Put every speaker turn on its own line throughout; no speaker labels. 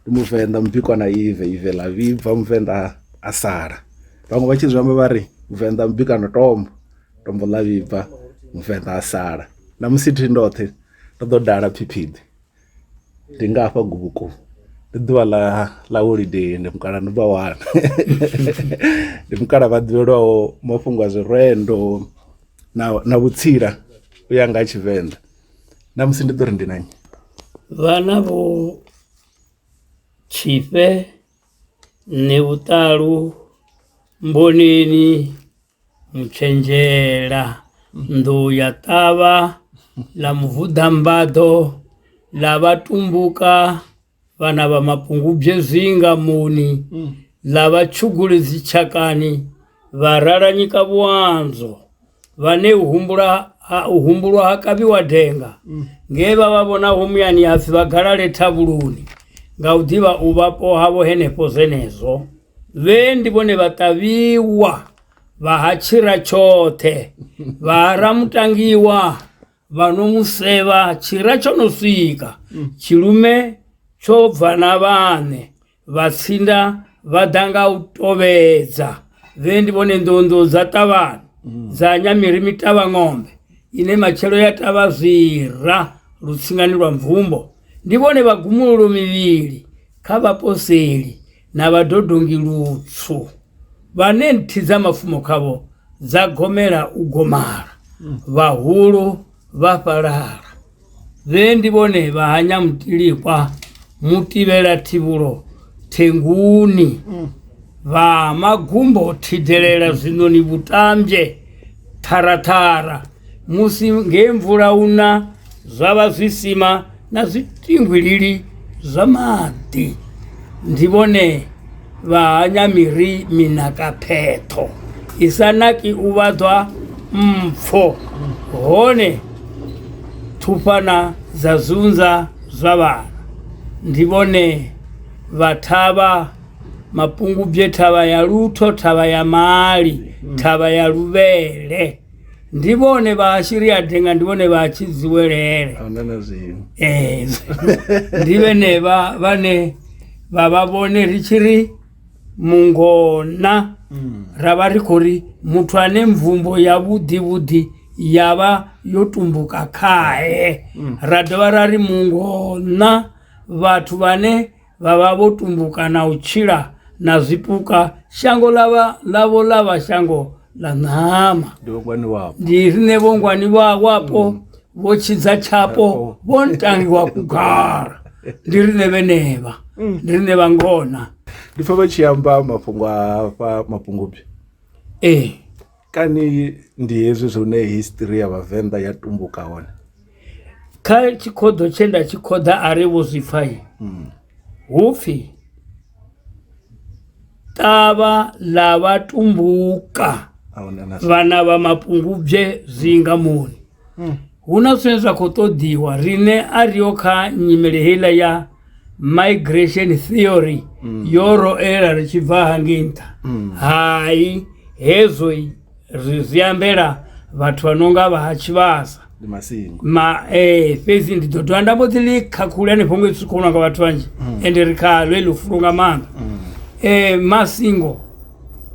ndi muvenḓa mubikwa na ive ive ḽa vhibva muvenḓa a sala vhaṅwe vha tshi zwi amba vha ri muvenḓa mubika na tombo tombo ḽa vhibva muvenḓa a sala na musi thi ndoṱhe ndo ḓo dala phiphiḓi ndi nga hafha gubuku ndi ḓuvha ḽa ḽa holiday ndi mukala ndi vha wana ndi mukala vha ḓivhelwaho mafhungo a zwirendo na na vhutsila u ya nga ha tshivenḓa na musi ndi ḓo ri ndi na nnyi vhana
vho tshifhe nṋe vhuṱalu mboneni mutshenzhela nḓu ya ṱavha ḽa muvhuḓambaḓo ḽa vhatumbuka vana va mapungubye zwinga muni mm. lava tshuguli dzichakani vha ralanyika vhuandzo vhane u humbula ha u humbulwa ha kavhiwa denga mm. nge vha vha vhona ho muyani hapfi vha galale thavhuluni nga u ḓivha u vhapo havho henefho zwenezwo vhe ndi vhone vha ṱavhiwa vha ha tshira tshoṱhe vha ha ramutangiwa vha no mu sevha tshira tsho no swika mm. tshilume tsho bva na vhaṋe vhatsinda vha ḓa nga u tovhedza vhe ndi vhone nḓonḓo dza ṱavhani mm. dza nyamiri mitavha ng'ombe ine matshelo ya tavha zwira lutsingani lwa mvumbo ndi vhone vhagumululo mivhili kha vhaposeli na vhadodongi lutswu vhane nthi dza mafumo khavho dza gomela u gomala vhahulu vha fhalala vhe ndi vhone vha hanya mutilikwa mutibela thivhulo thenguni vha magumbo thidelela zwiṋoni vhutamzhe ṱharaṱhara musi nge mvula una zwa vha zwi sima na zwiṱinguilili zwa maḓi, ndi vhone vha hanya miri mina ka phetho i sa naki u vhaḓwa mpfo, hone thufhana dza zunza zwa vhana. Ndi vhone vha thavha mapungubwe, thavha ya lutho, thavha ya mali, thavha ya luvhele. ndi vhone vha ashiri a denga ndi vhone vha tshi dziwelele ahuna na zwiṅwe Eh, ndi vhenevha vhane vha vha vhone ri tshi ri mungona ra vha ri khou ri muthu ane mvumbo ya vhuḓivhuḓi ya vha yo tumbuka khae ra dovha ra ri mungona vhathu vhane vha vha vho tumbuka na u tshila na zwipuka shango ḽavha ḽavho ḽa vha shango ḽa ṋama ndi riṋe vhongwani vha wapo mm. vho tshidza tshapo vho ntangiwa kugara ndi riṋe vhenevha mm. ndi riṋe vha ngona ndi pfa vha tshi
amba mafhungo a hafha mafhungo byo ee kani ndi hezwi zwone history ya vhavenḓa ya tumbuka hone kha
tshikhoḓo tshe nda tshi khoḓa a ri vho zwi pfa yi hmm. hu pfhi ṱavha ḽa vha tumbuka vhana vha mapungubye zwinga moni hu na zwine zwa khou ṱoḓiwa rine a riho kha nyimele heiḽa ya migration theory yo ro ela ri tshi bva hangei nṱha hai hezwo i- ri zwi ambela vhathu vha no nga vha ha tshivhasa ndi masingo ma eh fhedzi ndi ḓo dovha nda mbo ḓi ḽi khakhule hanefho ngei tsukhono nga vhathu vhanzhi ende ri khalwe ḽi fulo nga maanḓa eh masingo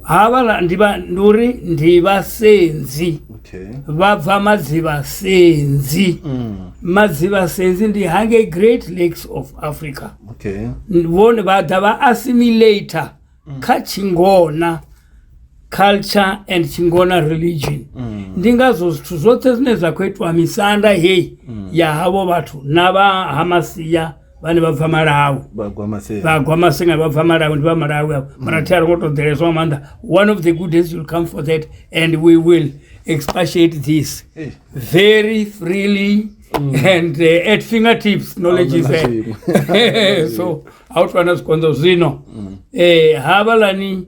havhala ndi vha ndi uri ndi vhasenzi okay vha bva madzivhasenzi mm. madzivhasenzi ndi hangei great lakes of africa okay vhone vha ḓa vha assimilator kha tshingona culture and tshingona religion ndi ngazwo zwithu zwoṱhe zwine zwa khou itwa misanda heyi ya havho vhathu na vha hamasia vhane vha bva malawi vhagwa masenga vha bva malawi ndi vha malawi avo mara mm. thi a ri ngo to ḓeleswa nga maanḓa one of the good days will come for that and we will expatiate this eh. very freely mm. and uh, at finger tips knowledge is so a u twana zwikonzo zwino um mm. eh, havhalani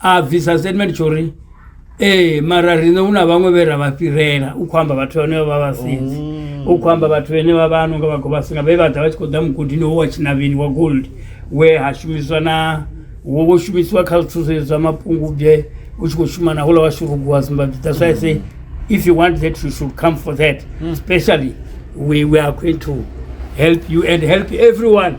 a bvisa statement tsho uri ee mara riṋe hu na vhaṅwe vhe ra vha fhirela u khou amba vhathu vhane vha vha vhasinzi mm. u khou amba vhathu vhene vha vha no nga vha khou vhasinga vhe vha ḓa vha tshi khou ḓa mugodini wo wa tshinavheni wa gold we ha shumiswa na wo vho shumisiwa kha zwithu zwe zwa mapungubye u tshi khou shuma na hula wa shurugu wa zimbabwe that's why i say if you want that you should come for that mm. especially we, we are going to help you and help everyone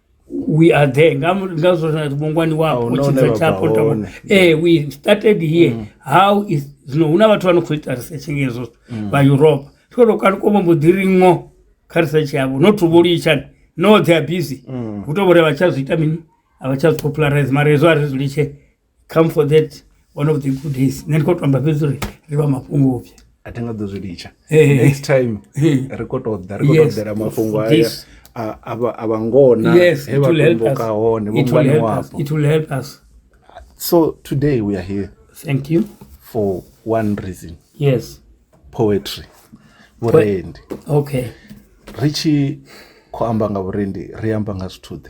we are there nga mu- nga zwo na vhongwani wapo Ahuna hune tshitsa vha tshapo bva tama hone. eh we started here how is zwino huna vhathu vha no khou ita research ngezwo vha europe tshikho to kali komo mbo ḓiri ngo kha research yavho no to vholitshani no they are busy hu to vhore vha tsha zwi ita mini a vha tsha zwi popularize mara hezwo a ri zwi litshe come for that one of the good days nṋe ndi khou tamba fhedzi uri ri vha mafhungo upfhi a thi nga ḓo zwi litsha
next time ri khou tou ḓa ri khou tou ḓela mafhungo aya a vha ngona he vha tumbuka hone vho ngwani wapo it will help us
so
today we are here thank you
for one
reason yes
poetry
vhurendi okay
ri tshi
khou amba nga vhurendi ri amba nga zwithuḓe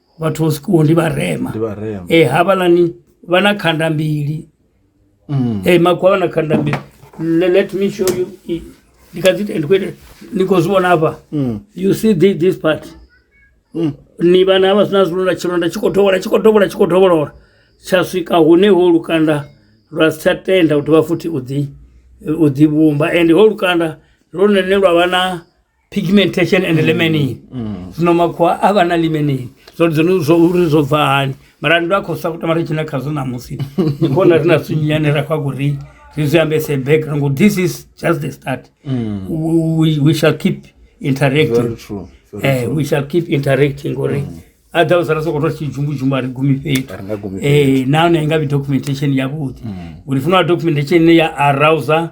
vhathu vho sikuwo ndi vharema ndi vharema eh havhalani vha na khanda mbili mm. eh makwa vha na khanda mbili Le, let me show you it. ndi kha dzi ndi khou ita- ni khou zwi vhona hafha Mm. you see this, this part Mm. ni vhana havha zwina zwilonda tshilonda tshi khou dovhola tshi khou dovhola tshi khou dovholola tsha swika hune ho lukanda lwa si tsha tenda u dovha futhi u ḓi u ḓi vhumba ende ho lukanda lwone lwa vha na pigmentation and lemenin zwino makhuwa a vha na lemenin zwo dzone zwo uri zwo bva hani mara ndo a khou sa kutama ri tshina khazwo ṋamusi ndi khona ri na zwithu nyane ra khou a kuri zwi zwi ambese back rango this is just the start we, we shall keep
interacting
Very true. Very eh, true. we shall keep
interacting
uri otherwise ra sokou to tshijumbudzhumbu a ri gumi fhethu A ri nga gumi Eh, nahone i nga vhi documentation yavhuḓi uri funa documentation ine ya arouser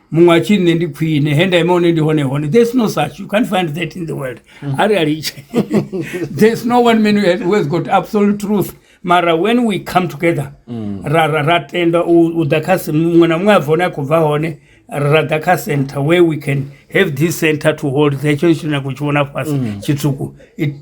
muṅwe a tshi nṋe ndi khwine he nda ima hone ndi hone hone there's no such you can't find that in the world mm. a ri a litshe there's no one man who has got absolute truth mara when we come together mm. ra ra ra tenda u ḓa kha muṅwe na muṅwe a bva hone a khou bva hone ra ḓa kha center where we can have this center to hold hetsho tshi nyago tshi vhona fhasi mm. tshitswuku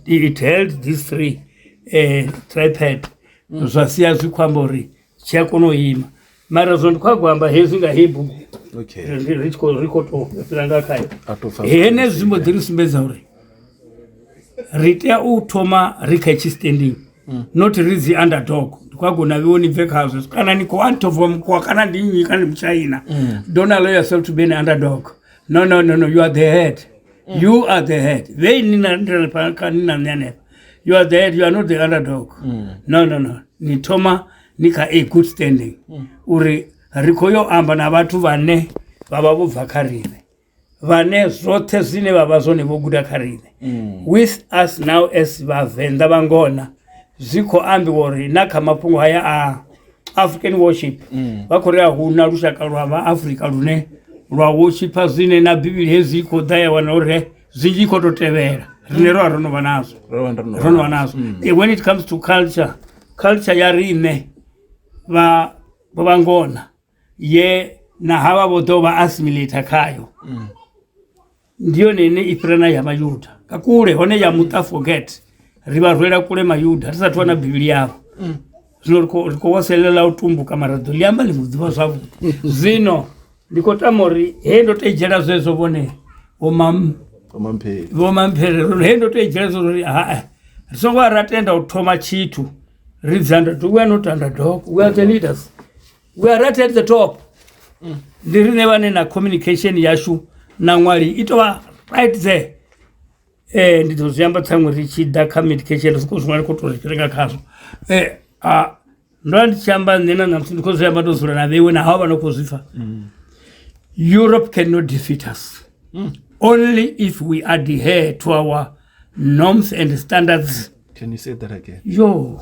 it held this three uh, tripad mm. zwa sia zwi khou amba uri tshi a kona u ima mara zwo ndi khou agwa amba hezwi nga hei bugu okay ri tshi khou ri khou tou fhira nga khayo a to fa henezwi zwi mbo ḓi ri sumbedza uri ri tea u thoma ri kha tshi standing not ri dzi underdog ndi khou agona vhiwo ni bve khazwo kana ni khou antova mukhuwa kana ndi nnyi kana ndi mutshaina don't allow yourself to be an underdog no no no no you are the head Mm. You are the head. Wewe ni na- ndio napaka ni na nene. You are the head, you are not the underdog. Mm. No no no. Ni thoma ni ka a good standing. Uri ri khou yo amba na vhathu vhane vha vha vho bva kha riṋe. Vhane zwoṱhe zwine vha vha zwone vho guda kha riṋe. Mm. With us now as vhavenḓa vha ngona zwi khou ambiwa uri na kha mafhungo haya a african worship mm. vha khou ri a huna lushaka lwa vha afrika lune lwa worshipa zwine na bivhili hezwi i khou ḓa ya wana uri zwinzhi i khou tou tevhela rine ro a ro no vha nazwo ro no vha nazwo mm. eh, when it comes to culture culture ya riṋe vha vha ngona ye na havha vho ḓo vha assimilata khayo mm. ndi yone ine i fhira na ya mayuda nga kule hone ya muṱa forget ri vha rwela kule mayuda ri sa thu wana bivhili yavho mm. zwino ri khou waselela u tumbuka mara ḓo ḽi amba ḽi mu ḓivha zwavhuḓi mm. zwino ndi khou tama uri he ndo tou dzhela zwezwo vhone vhomamphere he ndo tou dzhela zwo uri haa ri songo a ra tenda u thoma tshithu ri dzanda we are not underdog we are the leaders we are right at the top ndi rine vhane na communication yashu na ṅwali i tovha right there eh ndi ḓo zwi amba tsaṅwe ri tshi ḓa kha medication ri khou zwiṅwali khou tou ri renga khazwo eh a ndo vha ndi tshi amba nṋe na ṋamusi ndi khou zwi amba ndo dzula na vheiwe na hawo vha no khou zwi pfha europe cannot defeat us only if we adhere to our norms and standards Can you say that
again? yo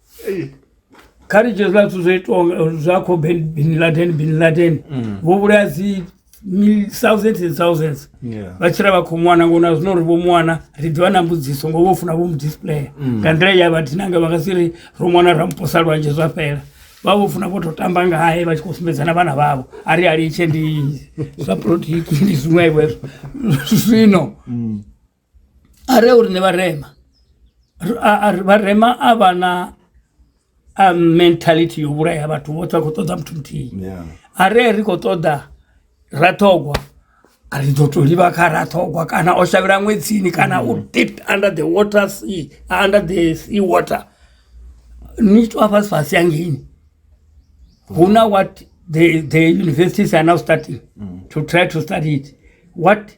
kha ri dzhie zwiḽa zwithu zwo itiwa zwa kho bin laden bin laden mm. vho vhulaya dzi thousands and thousands vha tshila vha khou mwana ngo na zwino ri vho mwana ri ḓivha na mbudziso ngo vho funa vho mu displaya mm. nga nḓila ya vha dinanga vha nga si ri ro mwana ra muposa lwanzhe zwa fhela vha vho funa vho tou tamba ngae vha tshi khou sumbedzana vhana vhavho a ri alitshe ndi zwa politiki ndi zwiṅwevho hezwo zwino mm. a re uri ni vharema vharema a vha na a mentality yo vhulaya vhathu vhoṱhe a khou ṱoḓa muthu muthihi a re ri khou ṱoḓa raṱhogwa a ri ḓo to livha kha raṱhogwa kana o shavhela ṅwedzini kana u mm. deep under the water sea under the sea water ni tshi to a fhasi fhasi yangeini hu na what the, the universities are now starting mm. to try to study it what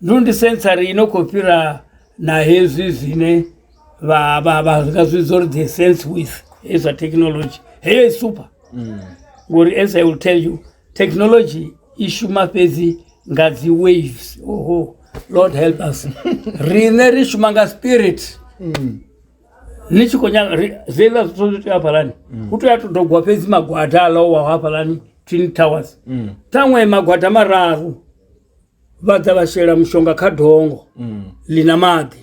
Ndo ndi sensory ino khou fhira na hezwi zwine vha vha vha nga zwi zwo ri the sense with hezwi zwa technology heyo i super mm. ngori as i will tell you technology i shuma fhedzi nga dzi waves oho lord help us riṋe ri shuma nga spirit mm. ni tshi khou nyaga zwiḽa zwithu zwi tea hafhalani mm. hu tea to dogwa fhedzi magwada a lowa hafhalani twin towers ṱhaṅwe magwada mararu vha ḓa vha shela mushonga kha dongo ḽi na maḓi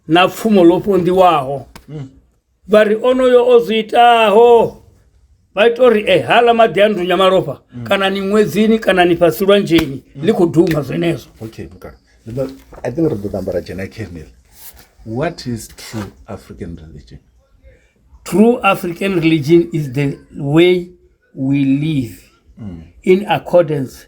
na pfumo ḽo ponḓiwaho vha ri onoyo o zwi itaho vha ita uri e hala maḓi a ndunya malofha kana ni ṅwedzini kana ni fhasi lwanzheni ḽi khou duma zwenezwo okay mukala
Zwino, i think ri ḓo ṱamba ra dzhena kernel what is true african religion true
african religion is the way we live in accordance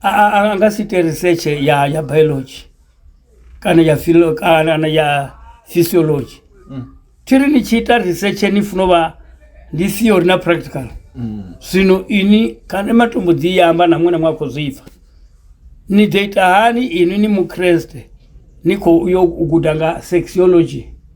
a, a, a nga si ite research ya, ya biology kana ya philo kana na ya physiology thiri ni tshi ita research ni funa u vha ndi theory na practical zwino ini kana matombo dzi i amba na muṅwe na muṅwe a khou zwi pfa ni ḓo ita hani ini ni mukreste ni khou yo u guda nga sexology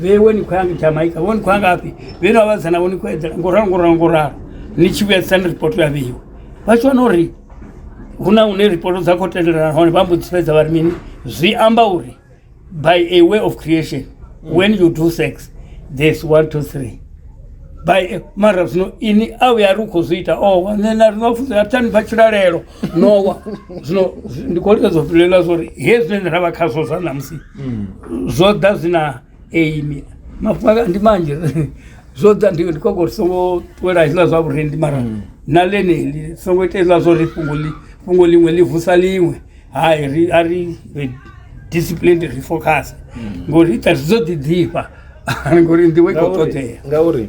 vewe ni khou ya nga jamaica vho ni khou ya ngafhi vhe no vhavhazana vho ni khou edzela ngoralo ngoralo ngoralo ni tshi vhuya tsani ripoto ya vheiwe vha tshi wana uri hu na hune ripoto dza khou tendelana hone vha mbo dzifhedza vha ri mini zwi amba uri by a way of creation when you do sex there's one two three by mara zwino ini a vhuya ri u khou zwi ita o nṋe na ri no funzela thani bva tshilalelo nowa zwino ndi khou lika zwo fhilelwa zwa uri he zwine ra vha khazwo zwa ṋamusi zwo ḓa zwi na aimi mafhunga ndi manzhi zwo ḓa ndi khou uri songo ṱuwela hezwiḽa zwa vhurendi mara na ḽeneli songo ita hezwiḽa zwa uri fhungo ḽi fhungo ḽiṅwe ḽi vusa ḽiṅwe hai ri a ri disciplined ri focus ngori ita ri dzo ḓi ḓifha ngori nḓivho i khou ṱoḓea ngauri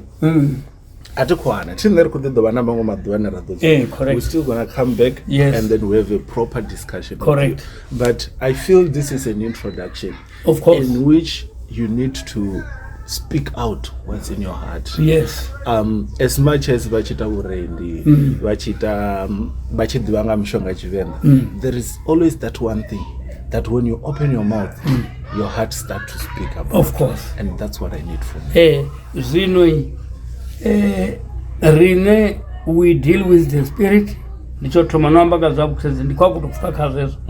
a thi khou hana thi nṋe ri khou ḓi ḓo vha na maṅwe maḓuvha ane ra ḓo eh, we still gonna come
back
yes. and then we have a proper discussion correct but
i
feel this is an introduction of course in
which you
need to speak out what's in your heart yes um
as much
as vha tshi ita vhurendi mm. vha tshi ita um, vha tshi ḓivha nga mishonga tshivenḓa mm. there is always that one thing that when you open your mouth mm. your heart start to speak about of course and that's
what i need
from you. Hey. Eh, Zwino
eh, rine we deal with the spirit ndi tsho thoma no amba nga zwa vhukhredzi ndi khou akuto pfuka kha zwezwo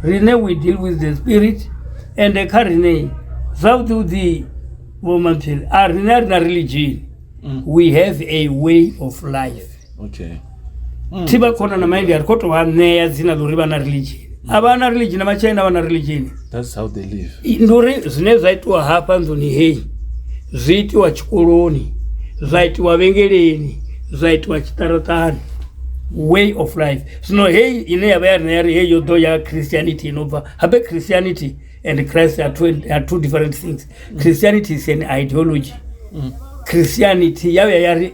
rine we deal with the spirit ende kha rine zwavhuḓivhuḓi vhomatshili a rine a ri na religion we have a way of life okay
Mm. thi vha
khona na maindi a ri khou tou vha ṋea dzina ḽa uri vha na religion a vha na religion na matshena vha na religion that's how they
live I- ndi uri zwine zwa
itiwa hafha nḓuni heyi zwi itiwa tshikoloni zwa itiwa vhengeleni zwa itiwa tshiṱaratani way of life zwino heyi ine ya vha ya rina ya ri heyi yo ḓo ya christianity ino bva habe christianity and christ are two, are two different things christianity is an ideology christianity ya vhuya ya ri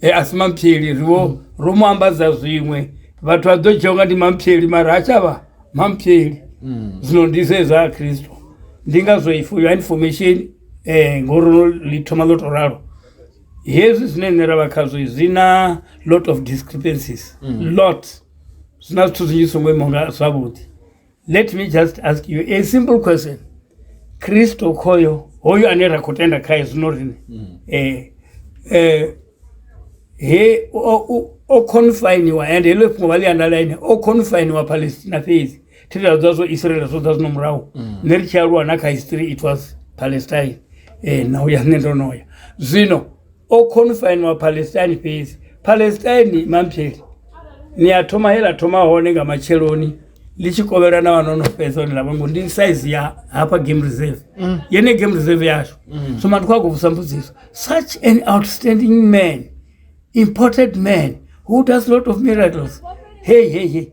e a si mamphyeli riwo mm. ro mu ambadza zwiṅwe vhathu vha ḓo dzhia unga ndi mamphyeli mara ha tshavha mamphyeli mm. zwino ndi zwezwa a kristo ndi ngazwo for your information um ngori no ḽi thoma ḽo to ralo hezwi zwine nṋe ra vha khazwo zwi na lot of discrepancies mm. lot zwi na zwithu zwinzhi songo imaunga zwavhuḓi let me just ask you a simple question kristo khoyo hoyo ane ra khou tenda khaye zwino rine mm. eh, eh, he o confiniwa and heḽo fhungo vha ḽi andalaine o confiniwa palestina fhedzi thitela dza zwo israel zwo dza zwino murahu mm. nṋe ri tshi aluwa na kha history it was palestine um na uya nṋe ndo no ya zwino o confine wa palestine fhedzi palestine mampheli ni a thoma he la thoma hone nga matsheloni ḽi tshi kovhelwa na vhanono fhedza hone lavha ngo ndi size ya hafha game reserve mm. yene game reserve yashu mm. so matu khou vusa mbudziso such an outstanding man imported man who does lot of miracles hey hey hey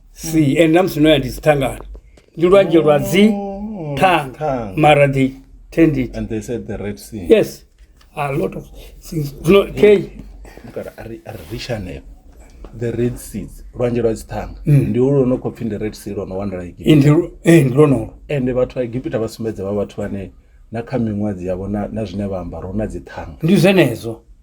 si ende na musi no ya ndi dzithangani ndi lwanzhe lwa dzi Oh, thanga thanga. mara they tend it And they said the Red Sea.
yes a
lot of things no okay Look at Ari- Ari-
Rishanel. The Red Sea. Lwanzhe lwa dzithanga. Ndi ulu lwo no khou pfi ndi Red Sea lwo no wanala iki. ndi lu- eh, ndi lonolo
Ende vhathu vha Egipita
vha sumbedza vha vhathu vhane na kha miṅwadzi yavho na na zwine vha amba ro na dzithanga. ndi zwenezwo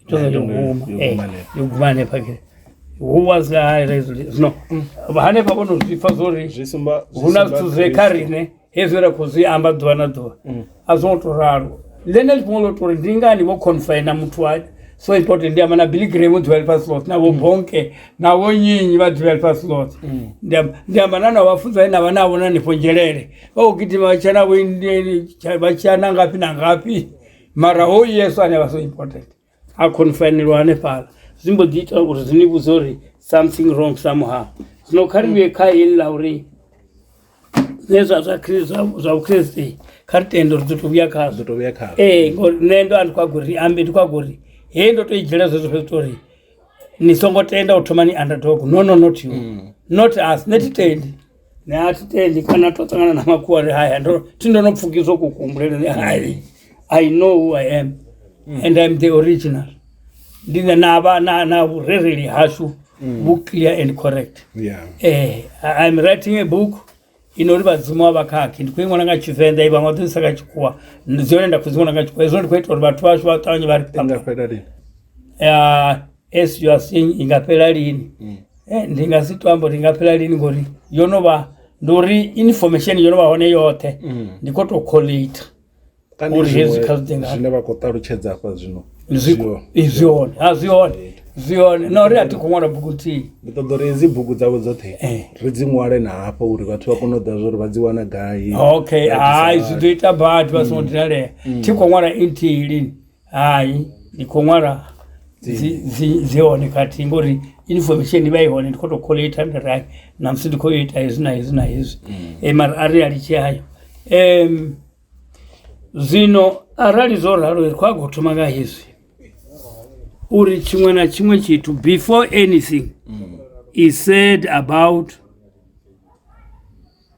Itoza Lando yo- yoguma yo eh, guma hanefha. yoguma hanefha ke who was I raised zvino hanefha vonozvipfa zvori zwi sumba zwi huna sumba zwithu zwe kha Kristo. rine hezwi ra khou zwi amba ḓuvha na ḓuvha Mm. a zwo ngo to ralo ḽene ḽifhungo ḽo tori ndi ngani vho confina muthu wa so important ndi amba na billy graham u ḓivha lifhasi loṱhe na vho bonke na vho nyinyi vha ḓivha lifhasi loṱhe Mm. Ndi amba- ndi amba na na vhafunza ane avha navho na nifho nzhelele vha khou gidima vha tshiya navho Indian, tsha- vha tshiya na ngafhi na ngafhi mara hoyu yesu ane vha so important a khonifainelwa hanefhala zwi mbo ḓi ita uri zwi ni vhudze uri something wrong somehow zwino kha ri vhuye kha heli ḽa uri zwe zwa zwa Khri- zwa- zwa vhukriste kha ri tende uri ḓo to vhuya khazwo to vhuya khazwo ee ngori nṋe ndo andi kwago ri ambe ndi kwago ri he ndo to i dzhiela zwezwo fhedzi tori ni songo tenda u thoma ni underdog no no not you not us nṋe thi tendi ne a thi tendi kana to ṱangana na makhuwa ri haya ndo thi ndo no pfukiswa u kuhumbulele ni hai i know who i am mm. and im the original ndi ne na vha na na vhurereli hashu mm. vhu clear and correct yeah. eh, im writing a book inori vadzimu wa vakhakhi ndi khou i ṅwana nga tshivenḓa i vhaṅwe ḓoisa nga tshikhuwa ndi yone nda khou dzi ṅwana nga tshikhuwa hezwo ndi khou ita uri vhathu vhashu vha ṱavhanye vha ri as you are saying i nga fhela lini mm. eh, ndi nga si to amba uri i nga fhela lini ngori yo no vha ndi uri information yo no vha hone yoṱhe mm. ndi khou tou collate uri hezwi kha zwi ḓinga
zwine vha khou ṱalutshedza hafha zwino zwi hone ha zwi hone
zwi hone na uri a thi khou ṅwala bugu nthihi ndi ṱoḓa uri hedzi bugu
dzavho dzoṱhe eh. ri dzi ṅwale na hafha uri vhathu vha kone u ḓa zwa uri vha dzi wana gai okay hai
zwi ḓo ita badi vha songo mm. dinalea mm. thi khou ṅwala nthihi lini hayi ndi khou ṅwala dzi- dzi- dzi hone khathihi ngori information i vha i hone ndi khou tou khola ita nda ri hayi namusi ndi khou yo ita hezwi na hezwi na hezwi Eh, mara a ri a litshi hayo um zwino arali zwo ralo ri khou a khou thoma nga hezwi uri tshiṅwe na tshiṅwe tshithu before anything is said about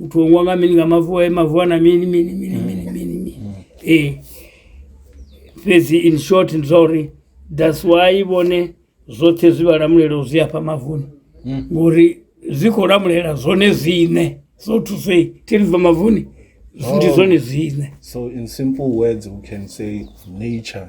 Utongwa nga mini nga mavu ayo mavu ana mini mini mini mm. mini mini mini mm. eh fhedzi in short ndi zwa uri that's why vhone zwoṱhe zwi vha lamulelo zwi afha mavuni mm. ngori zwi khou lamulela zwone zwine so to say thiri bva mavuni ndi oh. zwone zwine so in simple
words we can say nature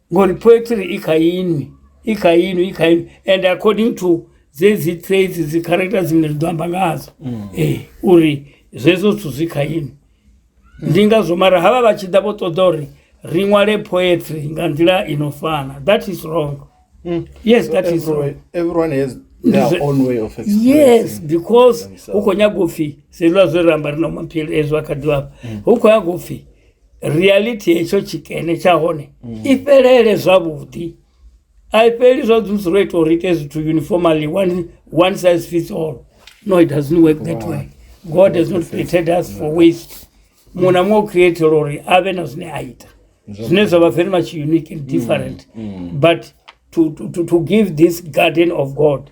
ngori poetry i kha inwi i kha inwi i kha inwi and according to dzedzi traits dzi character dzine ri ḓo amba ngadzo mm. ee uri zwezwo zwithu zwi kha inwi ndi ngazwo mara havha vha tshi ḓa vho ṱoḓa uri ri ṅwale poetry nga nḓila i no fana that is wrong mm. yes that is wrong
everyone has yes because
hu khou nyaga upfhi selwa zwe ramba ri na maphili ezwo a kha ḓivhafha mm. hu khou nyaga upfhi reality hetsho tshikene tsha hone mm. i fhelele zwavhuḓi a i fheli zwa dzudzi ro ita uri ite zwithu uniformally one, one size fits all no it doesn't work that way god has not created us for waste muṅwe na muṅwe o createla uri a vhe na zwine a ita zwine zwa vha very much unique and mm, different mm. but to, to, to give this garden of god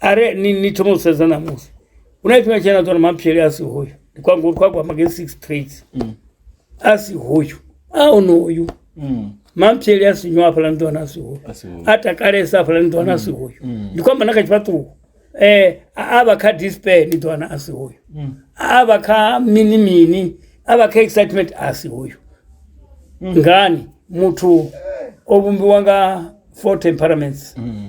are ni ni thoma u sedza namusi hu na tshifhinga tshena tsona maphyele a si hoyo ndi kwanga uri kwagwa mageni six trades Mm. a si hoyo a onoyu Mm. maphyele a si nywa hafhaḽa ni ḓo wana a si hoyo A si hoyo. a takalesa hafhaḽa ni ḓo wana a si hoyo ndi kwamba na kha tshifhaṱuwo um a vha kha dispair ni ḓo wana a si hoyo Mm. a vha kha mini mini a vha kha excitement a si hoyo ngani muthu o vhumbiwa nga four temperaments Mm.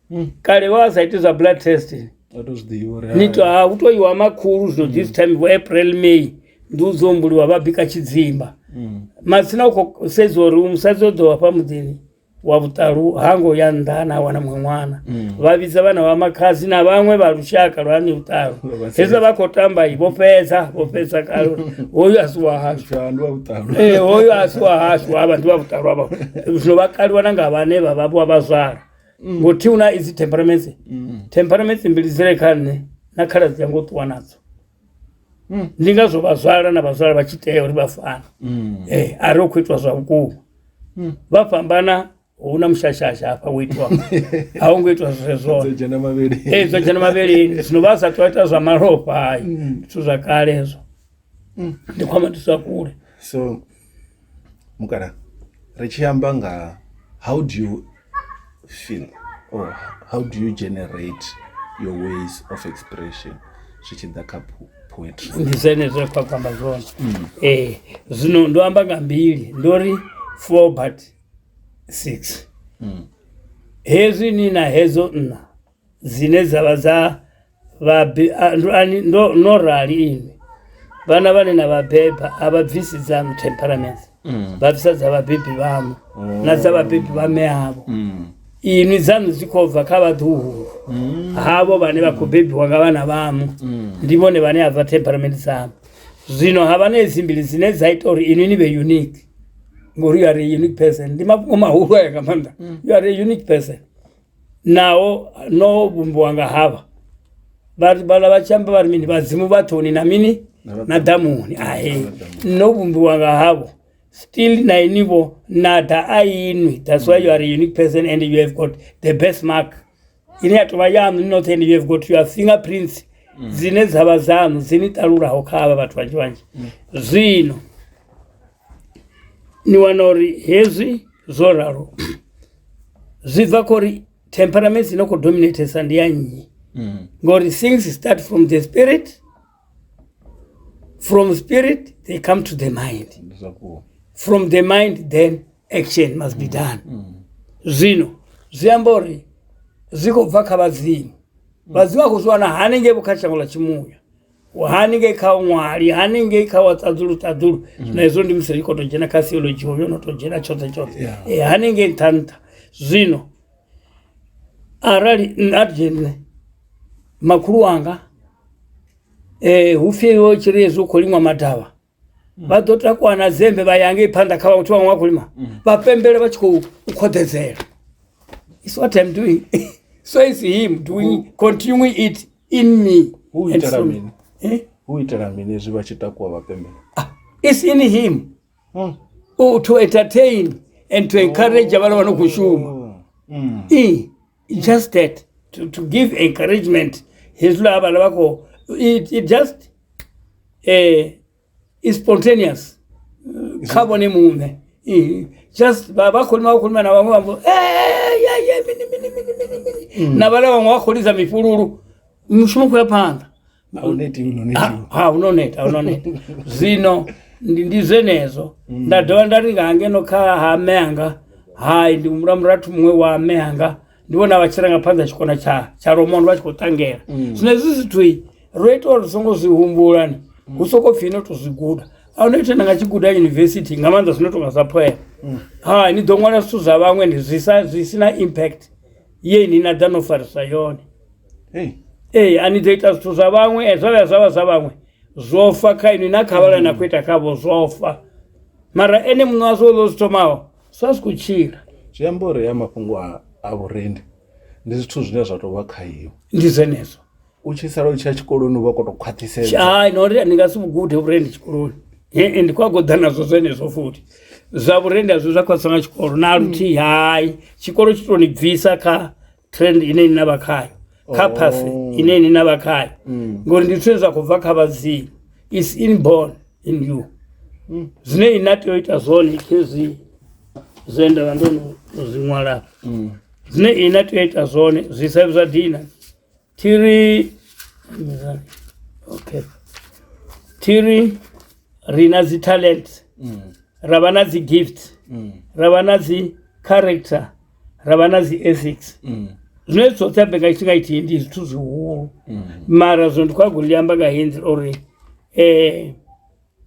kale vha vha sa iti zwa blood test a to zwi ḓivha uri ni to ha hu to iwa makhulu zwino this time vho april may ndi u dzombuliwa vha bika tshidzimba Mm. matsina u khou sedza uri musadzi o ḓo hafha muḓini wa vhuṱalu ha ngo ya nnḓa na a wana muṅwe ṅwana vha vhidza vhana vha makhadzi na vhaṅwe vha lushaka lwa ni vhuṱalu Vha vha hezwi vha khou tamba i vho fhedza vho fhedza kale uri hoyu a si wa hashu Tsha, ndi wa vhuṱalu
Eh, hoyo a si wa
hashu ava ndi vha vhuṱalwa vha zwino vha kaliwa na nga vhane vha vha vha vhazwala ngothi una izi temperaments temperaments mbili dzire kha nṋe na khaladzi yanga u ṱuwa nadzo ndi ngazwo vhazwala na vhazwala vha tshi tea uri vha fane Eh, a ri u khou itwa zwa vhukuma vha fhambana hu na mushashasha hafha wo itwa a hu ngo itwa zwezwone dzhena mavhili ee zwa dzhena mavheleni zwino vha sa tou ita zwa malofha hayi zwithu zwa kale hezwo mm. ndi khou amba thusa kule so
mukala ri tshi amba nga how do you feel or how do you generate your ways of expression zwi tshi ḓa kha poetry ndi zwenezwo kha khou
amba zwone mm. ee eh, zwino ndo amba nga mbili ndo ri four but six mm. hezwi ni na hedzo nna dzine dza vha dza vhabe ndo no rali ini vhana vhane na vhabeba a vha bvisi dzanu temperaments mm. vha bvisa dza vhabebi vhamu oh. na dza vhabebi vha me avo mm. inwi dzanu dzi khou bva kha vhaḓuhulu mm. havho vhane vha khou bebiwa nga vhana vhamu ndi vhone vhane a bva temperament dzamu zwino ha vha na edzi mbili dzine dza ita uri inwi ni vhe unique ngori you are a unique person ndi mafhungo mahulu aya nga maanḓa you are a unique person naho no vhumbiwa nga havha vha- vhala vha tshi amba vha ri mini vhadzimu vhathuni na mini na ḓamuni ahe no vhumbiwa nga havho still na inivho na ḓa a inwi that's why you are a unique person and you have got the best mark ine ya tovha yaṋu ni noṱhe and you have got your fingerprints dzine dzavha dzaṋu dzini ṱalulaho kha havha vhathu vhanzhi vhanzhi zwino ni wana uri hezwi zwo ralo zwi bva kho uri temperaments ino khou dominatesa ndi ya nnyi mm. ngori things start from the spirit from spirit they come to the mind from the mind then action must be mm. done mm. zwino zwi amba uri zwi khou bva kha vhadzimu vhadzimu a khou zwi wana hanengei vho kha shango ḽa tshimuya haningei kha ṅwali haningei kha waṱaḓulu ṱaḓulu mm. na hezwo ndi musi ri khou tou dzhena kha theology hovyo no tou dzhena tshoṱhe tshoṱhe eh, haningei nṱha nṱha zwino arali a dzhe nṋe makhulu wanga um hu pfhi wo tshi ri hezwi u khou liṅwa madavha vha ḓo takuwa na dzembe vha ya ngei phanḓa kha vhathu vhaṅwe vha khou lima vha pembele vha tshi khou u khoḓedzela is what I'm doing so is him doing continue it in me Hu and itela through me. mini?
Eh? hu itela mini zwi vha tshi takuwa vhapembela It's in
him Mm. oh, to entertain and to encourage vhana vha no khou shuma Mm. Eh, It's just that to, to give encouragement hezwi la vhala vha khou it, it just eh, is spontaneous kha vhone muṋe Eh, just vha vha khou lima vha khou lima na vhaṅwe vha mbo "Eh, ya, ya, mini, mini, mini, mini, mini." na vhala vhaṅwe vha khou lidza mifhululu mushumo khou ya phanḓa zwino ndi zwenezwo mm. nda dovha nda ri nga hangeno kha ha mme anga hai ndi humbula murathu muṅwe wa mme anga ndi vhona vha tshiranga phanḓa tshikona tsha tsha romono vha tshi khou ṱangela mm. zwino hezwi zwithu ro ita uri songo zwi humbulani mm. hu soko pfhi no to zwi guda a no ita nanga tshi guda university nga maanḓa zwino tonga sa phoela hai ni ḓo ṅwala zwithu zwa vhaṅwe ndi zwi si na impact ye ni na ḓa no farisa yone hey. ee a ni ḓo ita zwithu zwa vhaṅwe e, zwa vhuya zwa vha zwa vhaṅwe zwo fa kha inwi na kha vhala na khou ita khavho zwo fa mara ene muṋe wazwo ḽo zwi thomaho sa si khou tshila zwi amba uri ya
mafhungo a vhurendi ndi zwithu zwine zwa tou vha kha iwe ndi zwenezwo
u tshi sala u tshi
ya tshikoloni u vha koto khwaṱhisedza hai no ri ndi nga si
vhugude vhurendi tshikoloni ee ndi khou a goḓa nazwo zwenezwo futhi zwa vhurendi azwi zwa khwaṱhisa nga tshikolo na luthihi hai tshikolo tshi to ni bvisa kha trend ine ni na vha khayo kha path ine ni na vha khayo ngori ndi zwithu zwa khou bva kha vhadzimu is inborn in you zwine ina tea u ita zwone khezwi zwe nda vha ndo no zwi ṅwala zwine ina tea u ita zwone zwi sa zwa dina Thiri okay thiri ri na dzi talent mm. ra vha na dzi gift mm. ra vha na dzi character ra vha na dzi ethics mm. zwine dzoṱhe ambe nga tshifhinga ithihi ndi zwithu zwihulu mara zwino ndi khou ago ḽi amba nga henzi uri um eh,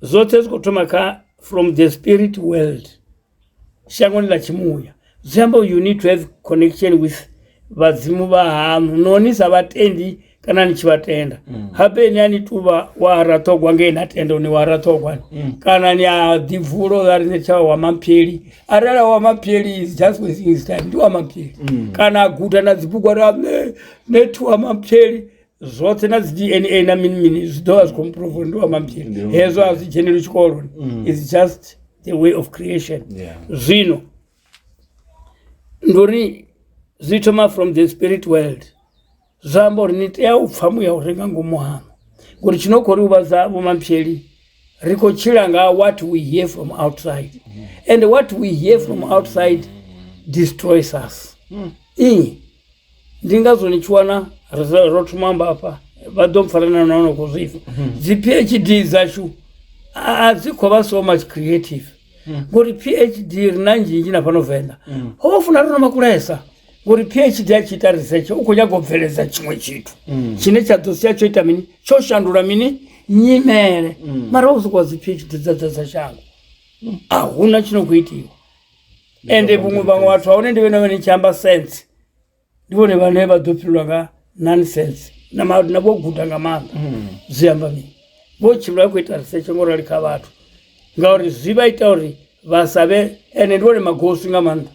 zwoṱhe zwi khou thoma kha from the spirit world shangoni ḽa tshimuya zwi amba you need to have connection with vhadzimu vha haṋu no ni sa vhatendi kana ni tshi vha tenda mm. habe ni a ni tuvha wa raṱhogwa ngei na tenda ni wa raṱhogwa mm. kana ni a ḓibvulo a ri ni tsha wa mampheli arali wa mampheli is just wasting his time ndi wa mampheli mm. kana a guda na dzibugwa ra ne ne thu wa mampheli zwoṱhe na dzi dna na mini mini zwi ḓo vha zwi khou mprove uri ndi wa mamphiri Ndi wa hezwo a mamphiri. zwi dzheneli tshikoloni Mm. is just the way of creation Yeah. zwino ndi uri zwi thoma from the spirit world zwa amba uri ni tea u pfha muya u re nga ngomu hanu ngori tshi no khou ri huvhadza vhomampheli ri khou tshila nga what we hear from outside and what we hear from outside destroys us Ii, Ndi ngazwo ni tshi wana ro thoma amba hafha vha ḓo mpfara na na no khou zwifha hmm. dzi PhD dzashu a dzi khou vha so much creative hmm. ngori PhD ri na nzhinzhi na fhano venḓa hmm. ho funa ri no makulesa ngori PhD a tshi ita research u khou nyaga u bveledza tshiṅwe tshithu tshine tsha ḓo sia tsho ita mini tsho shandula mini nyimele mara u sokou dzi PhD dza dza dza shango a huna tshino khou itiwa ende vhuṅwe vhaṅwe vhathu a hone ndi vhene vhane tshi amba sense ndi vhone vhane vha ḓo fhirwa nga nonsense na ma- na vho guda nga maanḓa zwi amba mini vho tshimbila vha khou ita research ngo rali kha vhathu ngauri zwi vha ita uri vha sa vhe ende ndi vhone magosi nga maanḓa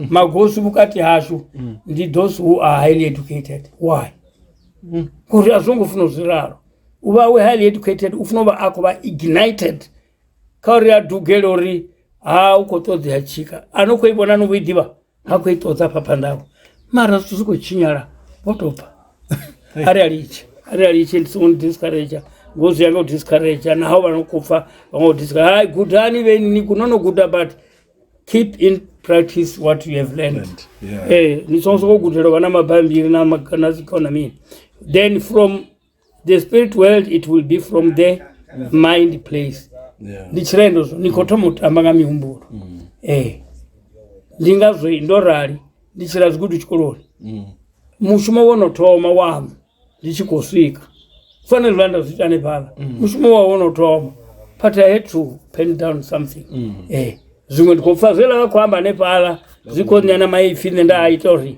magosi vhukati hashu ndi those who are highly educated why ngori a zwo ngo funa u zwi ralo u vha we highly educated u funa u vha a khou vha ignited kha uri a dugele uri ha u khou ṱoḓea tshika a no khou i vhona no vho i ḓivha ha khou i ṱoḓa fha phanḓa awe mara zwithu zwi khou tshinyala vho tou bva a ri a litshe a ri a litshe ndi songo ni discourage ngo zwi ya nga u discourage naho vha no khou pfa vha ngo discourage hai gudani vhe ni no no guda but keep in practice what you have learned eh ni songo sokou gudela vha na mabambiri na na zwikhona mini then from the spirit world it will be from the mind place Yeah. ndi tshirendo zwo ni khou thoma u tamba nga mihumbulo ee ndi ngazwo ndo rali ndi tshila zwigudu tshikoloni Mm. mushumo wo no thoma waṋu ndi tshi khou swika fanele vha nda zwi ita hanefhala mushumo wa wo no thoma but i had to pen down something ee zwiṅwe ndi khou pfa zwe ḽa vha khou amba hanefhala zwi khou ṋea na maipfhi nṋe nda a ita uri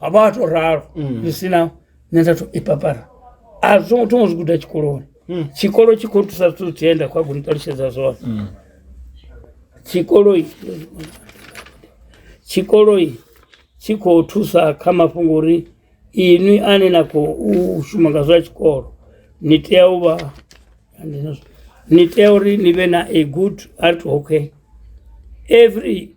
a vha to ralo mm. zwi si na nṋe nda to i papara a zwo ngo thoma zwi guda tshikoloni mm. tshikolo tshi khou thusa zwithu zwi enda khou a goni ṱalutshedza zwone mm. tshikoloi tshikoloi tshi khou thusa kha mafhungo uri inwi ane na khou shuma nga zwa tshikolo ni tea u vha ni tea uri ni vhe na a good art okay every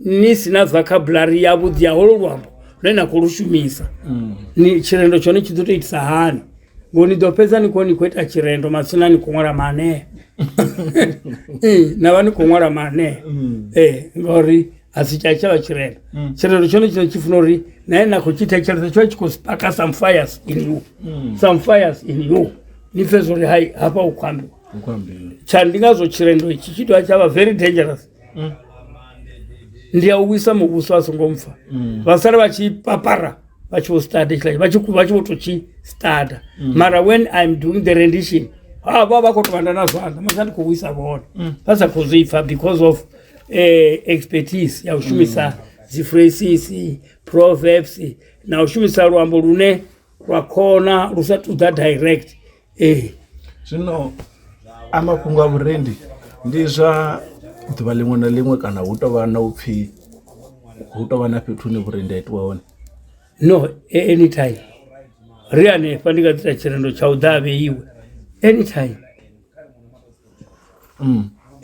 ni si na vocabulary yavhuḓi ya holo luambo lune na khou lu shumisa ni tshirendo tshone tshi ḓo tou itisa hani ngo ni ḓo fhedza ni khou ni khou ita tshirendo matsina ni khou ṅwala maanea Eh, na vha ni khou ṅwala maanea ee ngauri a si tsha tshavha tshirendo tshirendo tshone tshine tshi funa uri nae na khou tshi thetshelesa tsho tshi khou spaka some fires in you some fires in you ni pfhe zwa uri hai hafha u khou ambiwa tsha ndi ngazwo tshirendo itshi tshi dovha tsha vha very dangerous mm. ndi ya u wisa muvhuso a songo mpfa mm. vha sala vha tshi papara vha tshi vho study tshila vha tshi vha tshi vho to tshi study mm. mara when i'm doing the rendition ha vha vha khou tou vhanda na zwanḓa musi a ndi khou wisa vhone mm. vha sa khou zwi pfa because of eh, expertise ya u shumisa mm. dzi phrases proverbs na u shumisa luambo lune lwa khona lu sa ṱoḓa direct Ee
zwino a mafhungo a vhuendi ndi zwa ḓuvha ḽiṅwe na ḽiṅwe kana hu tovha na upfhi hu tovha na fhethu hune vhuendi ha itiwa hone. No
any time ri hanefha ndi nga ḓisa tshirendo tsha u ḓa a vheiwe any time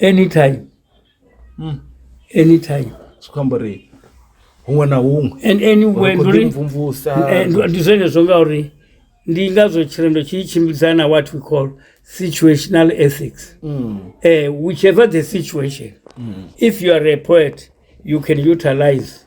any time. any time zwi khou amba uri
huṅwe na huṅwe and anywhere ndi uri
mvumvusa eh,
ndi zwenezwo ngauri
ndi ngazwo tshirendo tshi tshimbidzana na what we call situational ethics mm. eh, whichever the situation mm. if you are a poet you can utilize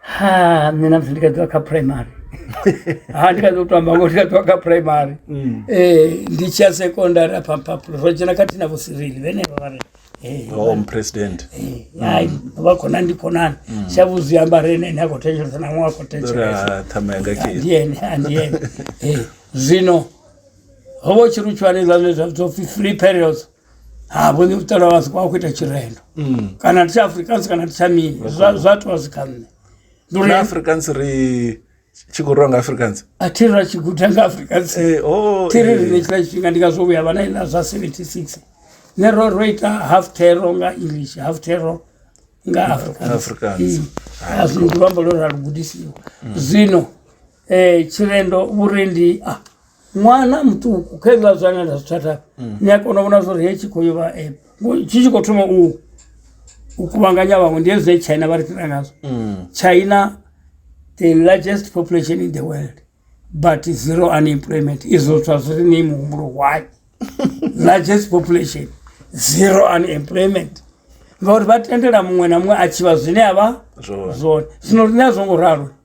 ha
nṋe na musi ndi kha ḓivha kha primary ha ndi kha ḓi u to amba ngo ndi kha ḓivha kha primary um ndi tshi ya secondary afha mphaphula ro dzhena khathihi na vhosirili vhenevha vha ri eh, home president
eh, hai
vha khona ndi khonani shavhu zwi amba re ene ene a khou thetshelesa na ṅwe a khou thetshelesa ra thama yanga khe andiyene
andiyene
Eh, zwino ho vha u tshi ri u tshihane zwa zwa zwa pfi free periods ha vhoni vhuṱala wasiko wa khou ita tshirendo kana ndi tsha africans kana ndi tsha mini Zwa- zwa tou zwi kha nṋe ndi uri na
africans ri tshi khou rwa nga africans a thi ra tshi guda
nga africans Eh, oh, thi ri eh. rine tshiḽa tshifhinga ndi nga zwo vhuya vha na iḽa zwa 76 ne ro ro ita half terror nga english half terror nga africans Afrikaans. Mm. Ah, zwino ndi luambo lwo ra lugudisiwa zwino um tshirendo vhurendi a ṅwana muṱuku kha hezwiḽa zwa ane nda zwi thatha ni a kona u vhona zwori hetshi khou yovha eh, tshi tshi khou thoma u u kuvhanganya vhaṅwe ndi hezwi china vha ri fhira ngazwo mm. china the largest population in the world but zero unemployment izwo zwithu a zwi ri nei muhumbulo why largest population zero unemployment ngauri vha tendela muṅwe na muṅwe a tshivha zwine a vha zwone zwino rine a zwo ngo ralo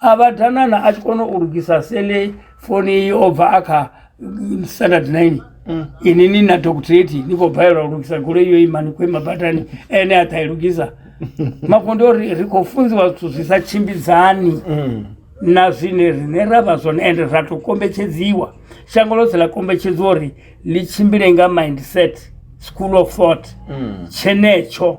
a vha danana a tshi kona u lugisa sele foni i o bva a kha mm, standard nine mm. ini ni na doctorate ni khou balelwa u lugisa goloi yo ima ni khou ima badani ene a ṱa i lugisa mafhungo ndi ori ri khou funziwa zwithu zwi sa tshimbidzani mm. na zwine rine ra vha zwone ende ra tou kombetshedziwa shango ḽoṱhe ḽa kombetshedziwa uri ḽi tshimbile nga mindset school of thought tshenetsho mm.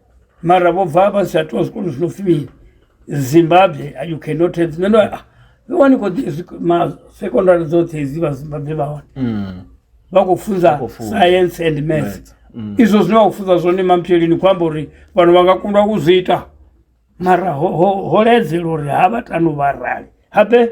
mara vho bva vha si athu zwikolo zwi no pfhi zimbabwe you cannot have nṋe ndo ah, vhe wani khou ma secondary dzoṱhe dzi vha zimbabwe vha hone mm. vha khou funza science and math mm. izwo zwine vha khou funza zwone mampshelini khou amba uri vhanhu vha nga kundwa u zwi ita mara ho ledzela uri ha vha tanu vha rali habe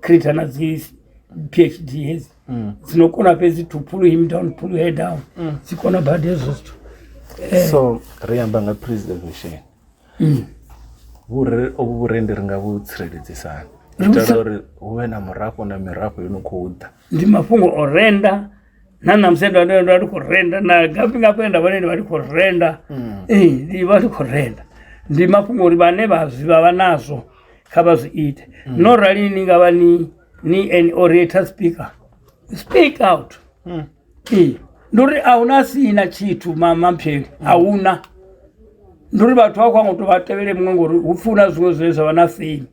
creator na dzi phd hedzi mm. dzinokona fhedzi to pull him down pull her down mm. dzi kona badi hezwo zwithu eh. so
ri amba nga preservation mm. ovhu vhurendi ri nga vhu tsireledzisani itela uri hu vhe na murafho na mirafho yo no khou ḓa ndi mafhungo o
renda na namusi ndo ndo ndo ndi khou renda na gapi nga kwenda vhone ndi vha ndi khou renda ee ndi vha ndi khou renda ndi mafhungo uri vhane vha zwi vha vha nazwo kha vha zwi ite no rali ni nga vha ni ni an orator speaker speak out ee ndi uri a huna sina tshithu ma- mampheli a huna ndi uri vhathu vha khou anga u tou vha tevhele muṅwe ngori hu pfuna zwiṅwe zwine zwa vha na fame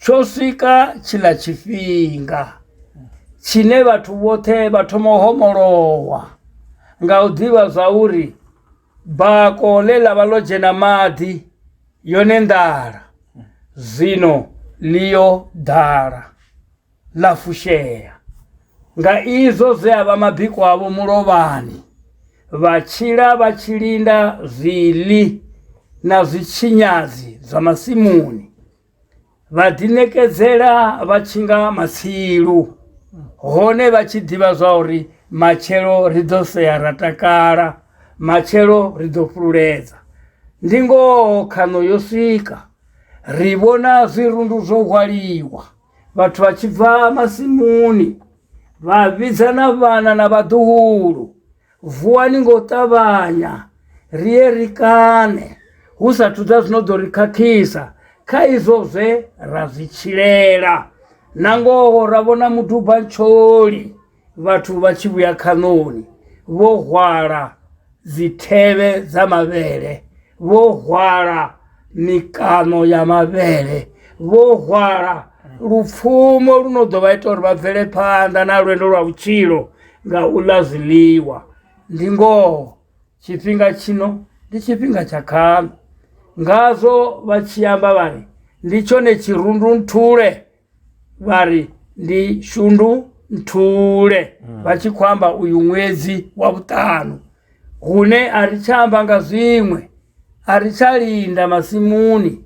Tsho swika tshiḽa tshifhinga tshine vhathu vhoṱhe vha thoma u homolowa nga u ḓivha zwa uri bako ḽe ḽa vha ḽo dzhena maḓi yone nḓala zwino ḽi yo ḓala. ḽa fushea nga izwo zwe a vha mabiko avho mulovhani vha tshila vha tshi linda zwiḽi na zwitshinyadzi zwa masimuni vha ḓiṋekedzela vha tshi nga matsilu hone vha tshi ḓivha zwa uri matshelo ri ḓo sea ra takala matshelo ri ḓo fhululedza ndi ngoho khaṋo yo swika ri vhona zwirundu zwo hwaliwa vhathu vha tshi bva masimuni vha vhidza na vhana na vhaḓuhulu vuwani ngo ṱavhanya ri ye ri kane hu sa thuḓa zwino ḓo ri khakhisa kha izwo zwe ra zwi tshilela na ngoho ra vhona muduba ntsholi vhathu vha tshi vhuya khaṋoni vho hwala dzithevhe dza mavhele vho hwala mikano ya mavhele vho hwala lupfumo lu no ḓo vha ita uri vha bvele phanḓa na lwendo lwa vhutshilo nga u ḽa zwiḽiwa ndi ngoho tshifhinga tshino ndi tshifhinga tsha khaṋo ngazwo vha tshi amba vhari ndi tshone tshirundu nthule vha ri ndi shundu nthule vha tshi khou amba uyu ṅwedzi wa vhuṱanu hune a ri tsha amba nga zwiṅwe a ri tsha linda masimuni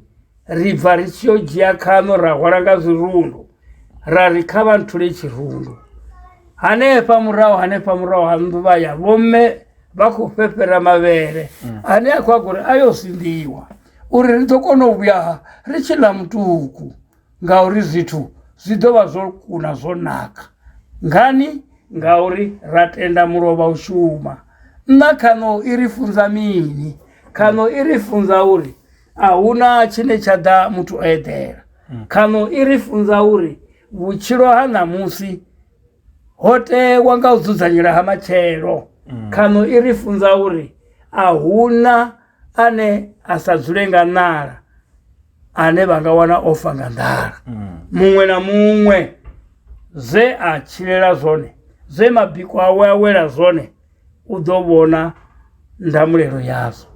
ri bva ri tshi yo dzhia khaṋo ra hwala nga zwirundu ra ri kha vha nthule tshirundu hanefha murahu hanefha murahu ha nnḓu vha ya vhomme vha khou fhefhera mavhele ane a khou a gori a yo sinḓiwa uri ri ḓo kona u vhuya ri tshi ḽa mutuku Ngauri zwithu zwi ḓo vha zwo kuna zwo naka. Ngani? Ngauri ra tenda mulovha u shuma. Nṋa khaṋo i ri funza mini? Khaṋo i ri funza uri a huna tshine tsha ḓa muthu o eḓela. Khaṋo i ri funza uri vhutshilo ha ṋamusi ho tewa nga u dzudzanyela ha matshelo. Khaṋo i ri funza uri a huna ane a sa dzule nga ṋala ane vha nga wana ofa nga nḓala mm. muṅwe na muṅwe zwe a tshilela zwone zwe mabiko awe a wela zwone u ḓo vhona ndamulelo yazwo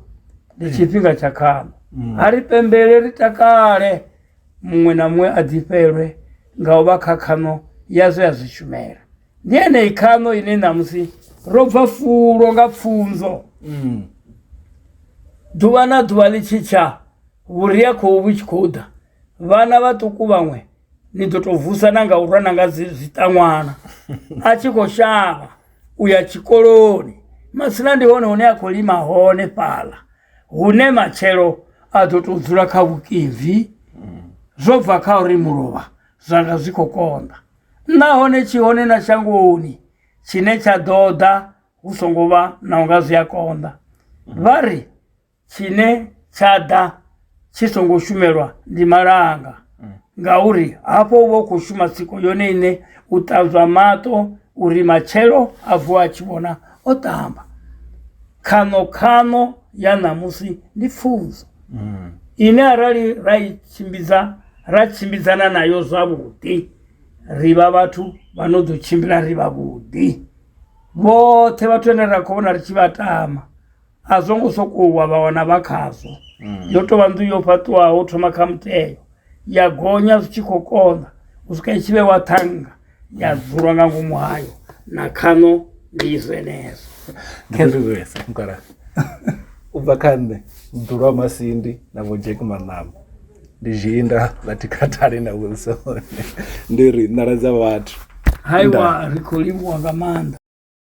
ndi mm. tshifhinga tsha khano mm. a ri pembele ri takale muṅwe na muṅwe a ḓifhelwe nga u vha kha khano ya zwe a zwi shumela ndi yeneyi khaṋo ine ṋamusi ro bva fulo nga pfunzo mm. ḓuvha na ḓuvha ḽi tshi tsha vhuria khou vhu tshi khou ḓa vhana vhaṱuku vhaṅwe ni ḓo tou vusa na nga u rwa na nga zwiṱaṅwana a tshi khou shavha u ya tshikoloni masina ndi hone hune a khou lima hone fhaḽa hune matshelo a ḓo tou dzula kha vhukimvi zwo bva kha uri mulovha zwanga zwi khou konḓa Nahone tshi hone na shangoni tshine tsha ḓo ḓa hu songo vha na unga zwi a konḓa vha ri tshine tsha ḓa tshi songo shumelwa ndi malanga ngauri hafho u vha u khou shuma tsiko yone ine u ṱanzwa maṱo uri matshelo a vuwa a tshi vhona o ṱamba khaṋo khaṋo ya ṋamusi ndi pfunzo mm. ine arali ra i tshimbidza ra tshimbidzana nayo zwavhuḓi ri vha vhathu vha no ḓo tshimbila ri vhavhuḓi vhoṱhe vhathu vhane ra khou vhona ri tshi vha tama a zwo ngo sokou wa vha wana vha khazwo mm. yo tou vha nḓu yo fhaṱiwaho thoma kha muteo ya gonya zwi tshi khou konḓa u swika i tshi vhewa ṱhanga ya dzula nga ngomu hayo na khano ndi zwenezwo khezwezwesa
mukala u bva kha nṋe mdulwa wa masindi na vho jack manama ndi zhinda ḽa tikhatale na wilson ndi ri nḓala dza vhathu haiwa ri
khou livhuwa nga maanḓa